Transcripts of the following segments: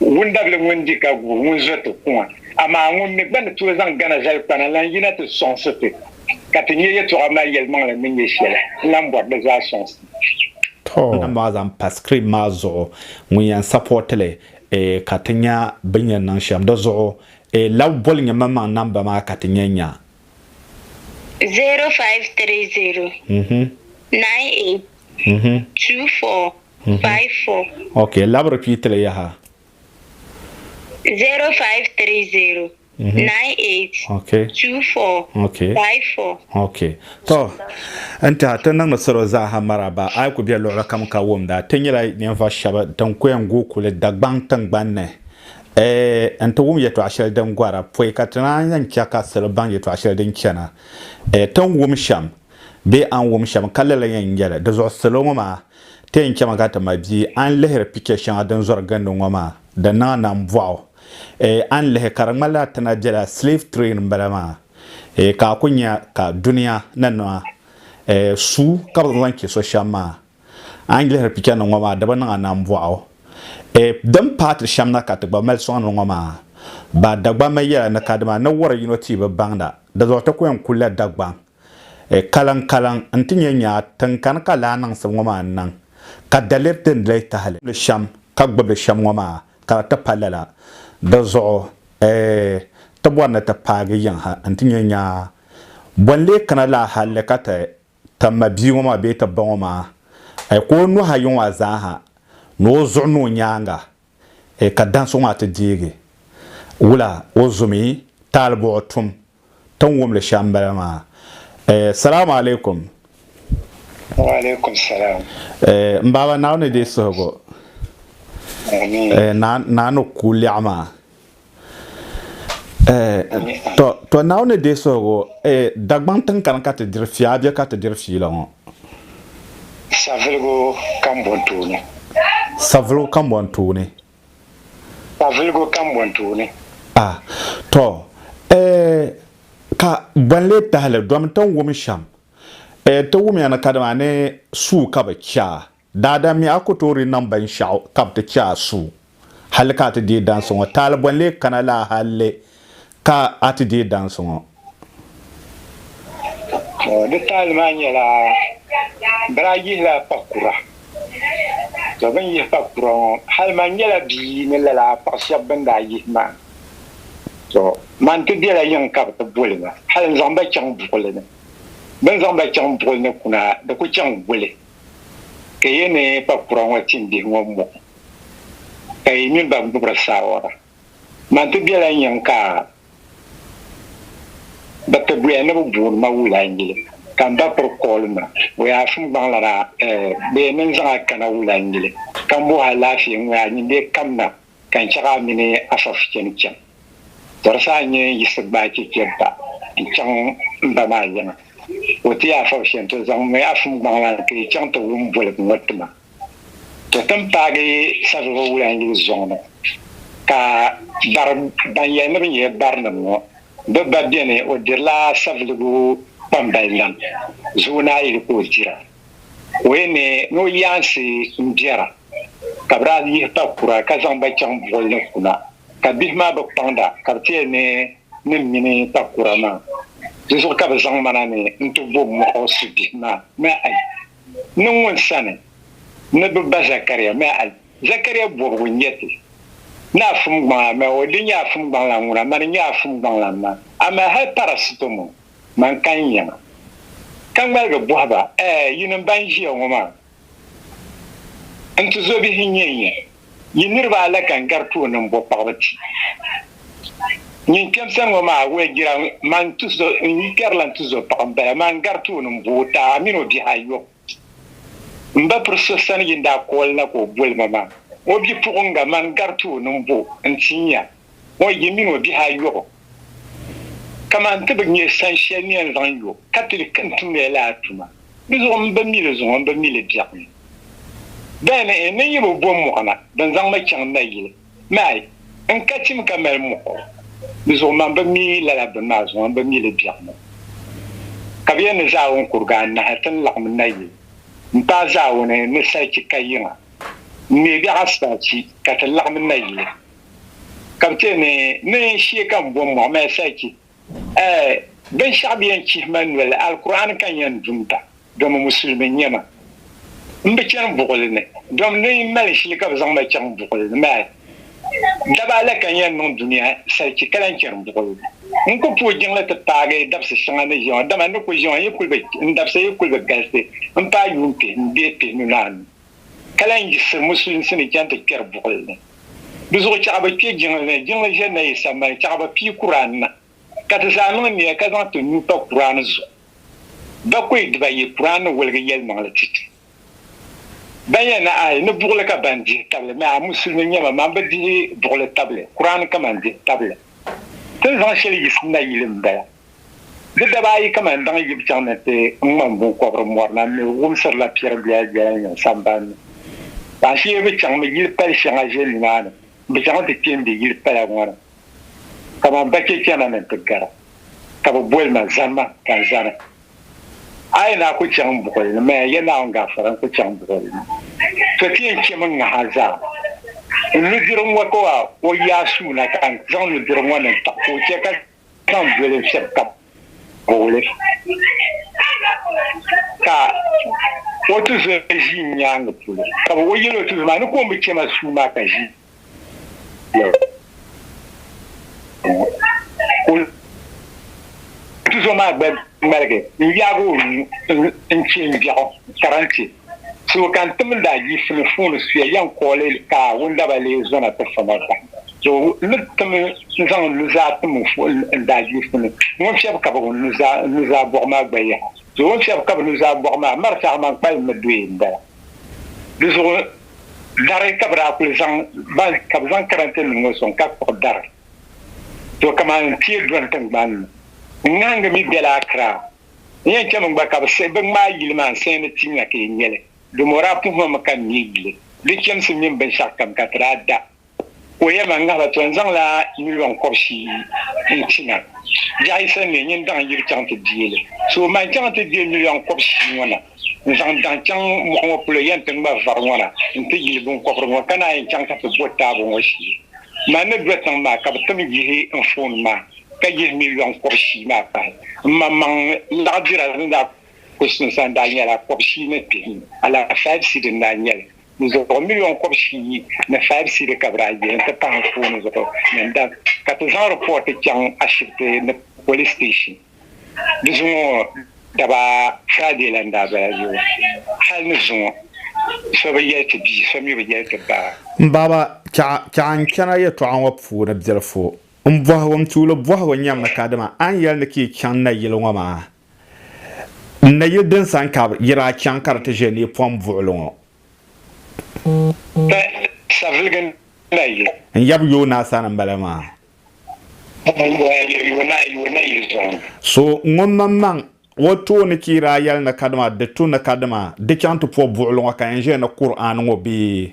Wundabili ŋun di ka guui ŋun zo ti kuŋa, amaa ŋun mi gba ni tooi zaŋ gana zali kpana n-lan yina ti sɔŋsi ti, ka ti nya yɛtɔɣa maa yɛlimaŋli ni nyɛ shɛli n-lan bɔri di zaa sɔŋsim. Tɔɔ! N-maa zaŋ pa screen maa zuɣu ŋun yɛn support li eh ka ti nya bini yɛn niŋ shɛm di zuɣu eh lab boli nyɛ maŋmaŋ number maa ka ti nya nya. 0530 98 24. Mm-hmm. five four. Okay, lab repeat li yaha. Zero five three zero. Mm-hmm. Nine eight. Okay. Two four. Okay. Five four. Okay. To n tiɛha ti niŋdi salo zaaha maraba a yi ku bɛ luɣuli kam ka wumda ti nyɛla ninvuɣu shɛba din ku yɛn guui kuli Dagbaŋ tingbani ni Eh, n ti wum yɛtɔɣa shɛli din gɔra pɔi ka ti naan yɛn chɛ ka salo baŋ yɛtɔɣa shɛli din chɛna Eh, tin wum shɛm bee an wum shɛm ka lala yɛn nyɛli di zuɣu salo ŋɔ maa Ti yɛn chɛmi ka ti ma bia. A ni lihiri picha shɛŋa din zɔri gindi ŋɔ maa, di niŋ a nambɔɣu. Eei, a ni lihi ka di ŋmanila a ti na bela slave train m-bala maa. Eei, ka a ku nya ka dunia ni niŋ a eei suu ka bɛ zaŋ chɛ so shɛm maa. A ni lihiri pichanim ŋɔ maa, di bi niŋ a nambɔɣu. Eei, din paai ti shɛm na ka ti gba mali sɔŋ ni ŋɔ maa. Ba Dagbamba yɛla ni kadama ni wari yino tia bi baŋda, di zuɣu ti ku yɛn kulila Dagbaŋ. E kalaŋ kalaŋ n-ti nyɛ nyaa tiŋkani ka lahi niŋsim ŋɔ maa n-niŋ ka daliri din doli tahili li shɛm ka gbubi li shɛm ŋɔ maa ka di ti pa lala. Di zuɣu e ti bɔri ni ti paagi yiŋ ha n-ti nyɛ nyaa bɔ n-lee kana laa halli ka ti ti ma bia ŋɔ maa bee ti ba ŋɔ maa e ka o nuhi ayi ŋɔ a zaa ha ni o zuɣu ni o nyaaŋa e ka dansi ŋɔ maa ti deegi wula o zumi taali buɣi tum Tin wum li shɛm bala maa. Eh, salaam alaikum. Wa alaikum salaam. Eh, m baaba Naawuni ni deei suhigu. Amiin. Eh, na, na ni ku lɛɣu maa. Eh, to, to Naawuni ni deei suhigu, eh, Dagbaŋ tin kani ka ti diri fiya a bɛ ka ti diri fiila ŋɔ? Saviligu kambɔntooni. Saviligu kambɔntooni. ka viligu kam bɔn tooni. A, tɔ, ɛ, ka bɔn lee tahi li domi ti ni wum shɛm, ɛ, ti wumiya ni kadama a ni suu ka bi chɛ a, daadam mi a ku tooi di niŋ binshɛɣu ka bi ti chɛ a suu hali ka a ti deei dansi ŋɔ taali bɔn lee kana laa hali Ka a ti deei dansi ŋɔ? Di taali maa nyɛla, biri a yihila kpah kura. Tɔ bɛ ni yihi kpah kura ŋɔ, hali man nyɛla bia ni lala a kpah shɛb bɛ ni daa yihi maa. Tɔ man ti bela yiŋ ka bɛ ti boli ma, hali n-zaŋ ba chaŋ buɣili ni. Bɛ ni zaŋ ba chaŋ buɣili ni kuna, di ku chaŋ wuli ka yi ni kpah kura ŋɔ tim bihi ŋɔ mɔɣu, ka yi mini ba gbibiri saawara. Man ti bela n-yiŋ ka bɛ ti boya ni bɛ booni ma wula n-yili, ka m ba piri kooli ma o yaa sim gbaŋla daa, eh, boya ni n-zaŋ a kana wula n-yili, ka m bohi alaafee ŋɔ yaa nyin bee kam na, ka n chɛ ka a mini Asaf chani chaŋ. Tɔri sa a nyɛ n yiɣisi gbaai chɛchɛ ba n-chaŋ m ba maa yiŋa, o ti yaa fab shɛntɔ zaŋ mɔya fum gbaŋla n-ti yi chaŋ ti wum boligu ŋɔ ti ma. To tin paagi Savelugu Wulan yili zɔŋ ni ka bari ban yɛli ni bɛ nyɛ barinim ŋɔ bɛ gba beni. O dirila Savelugu kpambali lam zuɣu ni a yuli ka o dira. O yi ne ni o yaansi m-bera ka bɛ daa yihi pa kura ka zaŋ ba chaŋ buɣili ni kuna ka bihi maa bi kpaŋda ka bɛ ti yɛli ni ni m-mini pa kura maa. Di zuɣu ka bɛ zaŋ ma na ni n-ti bo mɔɣu su bihi maa. ni ŋun sani ni bɛ ba Zɛkariya mi a Zɛkariya bɔbigu n-nyɛ ti, Ni a fumgbaŋ a ma o, di nyɛ a fumgbaŋlan ŋuna, man n-nyɛ a fumgbaŋlan ma, amaa hal parasitomo man ka n yɛm a. Ka ŋmaligi bɔhi ba, Ɛɛ, yinim bɛn ʒiya ŋɔ maa, n tizɔbihi n-nyɛ n-nyɛ? Yi niriba a lahi kan gari tooni m-bo paɣiba ti nyin kpɛmsa ŋɔ maa wee jira man n-tuzo n-yi kpɛri la n-tuzo paɣa m-bala maa n-gari tooni m-bo o taai mini o bihi ayɔbu. M ba piri so sani yin daa kooli na ka o boli ma maa, o bipuɣiŋga man n-gari tooni m-bo n-ti nya ŋɔ yi mini o bihi ayɔbu. Kaman ti bi nya san shɛli ni yɛn zaŋ yo ka ti di ka n tumdila lala tuma di zuɣu m bi mi li zuŋɔ m bi mi li biɛɣu ni. Dali ni n ni yi bi bo mɔɣu na din zaŋ ma chaŋ n nayili maa n ka chim ka mali muɣiri di zuɣu maa m bi mi lala bini maa zuŋɔ m bi mi li biɛɣu ni. Ka bɛ yɛn ni Zaawuni kuriga anahi ti ni laɣim n nayili m paai Zaawuni ni salichi ka yiŋa m mi biɛɣu asitaachi ka ti laɣim n nayili. ka bɛ ti ni mi n shee ka m bom mɔɣu mali salichi. Ɛɛ, binshɛɣu bɛ yɛn chihi ma noli, Alkur'aani ka n yɛn dumda, domi Musulimi n-nyɛ ma. M bi chani buɣili ni, domi ni n mali shili ka bɛ zaŋ ma chaŋ buɣili ni maa. Daba la ka n yɛn niŋ dunia salichi ka lahi chani buɣili ni. N ku puhi jiŋli ti paagi dabisi shɛŋa ni ʒiɛma, dama n ni ku ʒiɛma yi kuli bi, n dabisa yi kuli bi galisi m-paai yuun pihinu bee pihinu ni anu. ka lan yiɣisiri musulinsi ni chaŋ ti kpɛri buɣili ni. Di zuɣu chɛɣu bi kpe jiŋli ni, jiŋli ʒe nayi sambani, chɛɣu bi pii Kur'an na, ka ti zaa niŋ nia ka zaŋ ti nuu pa Kur'an zuɣu. Bakɔi dibayi, Kur'an ni woligi yɛlimaŋli ti ti ban yɛn na ayi ni buɣili ka ban dihi tabili mi a musulimi nyɛma man bi dihi buɣili tabili, Kur'an kaman dihi tabili. Ti ni zaŋ shɛli yiɣisi nayili m-bala. Di daba ayi ka mani baŋ yib chaŋ ni ti ŋmani biŋkɔbiri mɔri na mi wumsirila piɛri doya doya n-yiŋ samban ni. Ka ashee bɛ chaŋmi yili pali shɛŋa ʒe nimaani m-bi chaŋ ti kpe m-be yili pala ŋɔ ni. Kamani bachechana ni ti gara, ka bɛ boli ma Zanima ka n zani. A yi naa ku chaŋ buɣili ni, maya ya Naawuni gaafara n-ku chaŋ buɣili ni. To ti yɛn chemi n-ŋah a zaa. N nudirigu ŋɔ ka o yaai suu na ka n zaŋ nudirigu ŋɔ niŋ taɣu ka o chɛ ka Zaŋ doli shɛb ka booli ka o tizol ʒi n nyaaŋa polo, ka bɛ o yɛl o tizol maa ni ka o mi chɛ ma suu maa ka ʒi ya ŋɔ, ka o tizol maa gba ŋmaligi n-yaag o nuu n-chɛ m biɛɣu, Karanchi. Suhu ka n tim n daa yiɣisi mi fuuni suya yɛn kɔɔli ka wundaba lee zɔna ti fa ma bahi. Di ni tim n zaŋ n nuzaa tim n fuhi n daa yiɣisi mi ŋun fiɛbi kabig n nuzaa bɔɣu maa gba yaha. Di o ni fiɛbi kabig nuzaa bɔɣu maa mari saha man kpalim mi doya m-bala. Di zuɣu dari ka bɛ daa kuli zaŋ ba ka bɛ zaŋ karante nim ŋɔ sɔŋ ka kpuɣi dari. To kaman n tiɛ dɔni tiŋgbani ni. N ŋahingi mi bela Akiraa. N yɛn chɛmi gba ka bɛ siɣi bɛ ŋmaai yili maa n-siɣi ni ti nya ka yi nya li, domi o daa puhi ma mi ka n neei yuli di chɛmsi mini binshɛɣu kam ka ti daa da. Ka o yɛli ma, N ŋahila tɔ, n zaŋla miliɔn kɔbisi n-ti ma. Biɛɣu yi sani mi, nyin daɣ n-yiri chaŋ ti deei li. So man chaŋ ti deei miliɔn kɔbisi ŋɔ na, n zaŋ daɣ chaŋ mɔɣu ŋɔ polo yɛn ti ŋma vari ŋɔ na nti yili biŋkɔbiri ŋɔ ka naan yɛn chaŋ ka ti bo taabo ŋɔ shee. Man ni do tiŋ maa ka bɛ tim yihi n foon maa. ka yihi mi yɔŋ kɔb shii maa pahi. M maŋmaŋ laɣidira ni daa ku suŋ sa n-daa nyɛla kɔb shii ni pihi mi, alaha five cedi n-daa nyɛ li. Di zuɣu miliɔn kɔb shii ni five cedi ka bɛ daa yihi nti pahi n fooni zuɣu ni n dak ka ti zaŋ ripɔɔti chaŋ ashibiti ni polis siteeshin. Di zuŋɔ daba Friday la n-daa bala zuɣu hal ni zuŋɔ so bi yɛli ti bia so mi bi yɛli ti ba. M baaba, chɛɣa n-chana yɛtɔɣa ŋɔ puuni bilifu M bɔhigu, m tuuli bɔhigu nyam ni kadama a ni yɛli ni ka yi chaŋ nayili ŋɔ maa, n nayili din sani ka yi daa chaŋ ka di ti ʒe ni pom buɣili ŋɔ? Bɛ saviligi nayili. N yab yo naa sani m-bala maa. So ŋun mini maŋ o tooni ka yi daa yɛli ni kadama di tu ni kadama di chaŋ ti po buɣili ŋɔ ka yɛn ʒe ni Kur'aani ŋɔ bee?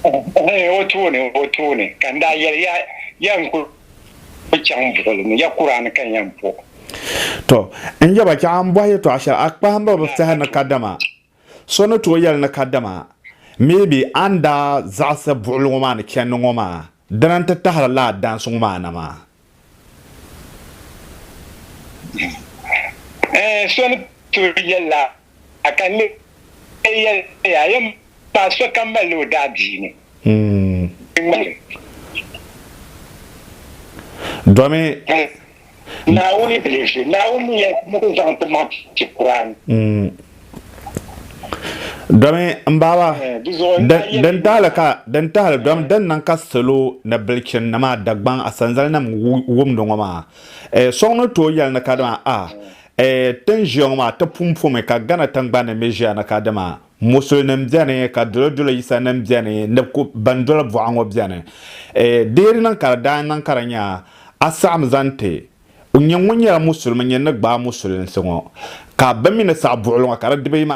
O tooni, o tooni, ka n daa yɛli ya, ya n ku chaŋ buɣili ni, ya kura ni ka n yɛn po. Tɔ! N yaba, chɛ a ni bɔhi yɛtɔɣ shɛli, a kpahimba bi saha ni kadama so ni tooi yɛli ni kadama maybe a ni daa zaɣisi buɣili ŋɔ maa ni chɛndi ŋɔ maa. Dina n-ti tahiri lala daansi ŋɔ maana maa. Ɛɛh, so ni tooi yɛli la a ka n lee yɛli ya, a yɛn paai sokam mali ni o daadiini ŋmaligi. Domi Naawuni bi li ʒe, Naawuni mi yɛn ni ti zaŋ ti maŋ ti Kur'an. Domi m baaba din tahili ka din tahili domi din niŋ ka salo ni bilichin nima Dagbaŋ Asanzali nim wumdi ŋɔ maa so ŋun ni tooi yɛli ni kadama a ti ni ʒiya ŋɔ maa ti pun pomi ka Ghana tiŋgbani ni mi ʒiya ni kadama Musulinim beni ka Dolodolo Yisanim beni ni ku ban doli buɣa ŋɔ beni. E, deeri niŋ ka di daa niŋ ka di nya a saɣim zaŋ ti o nya ŋun nyɛla Musulimi nyini ni gbaai Musulinsi ŋɔ, ka bɛ mi ni saɣi buɣili ŋɔ ka di di bɛ yima.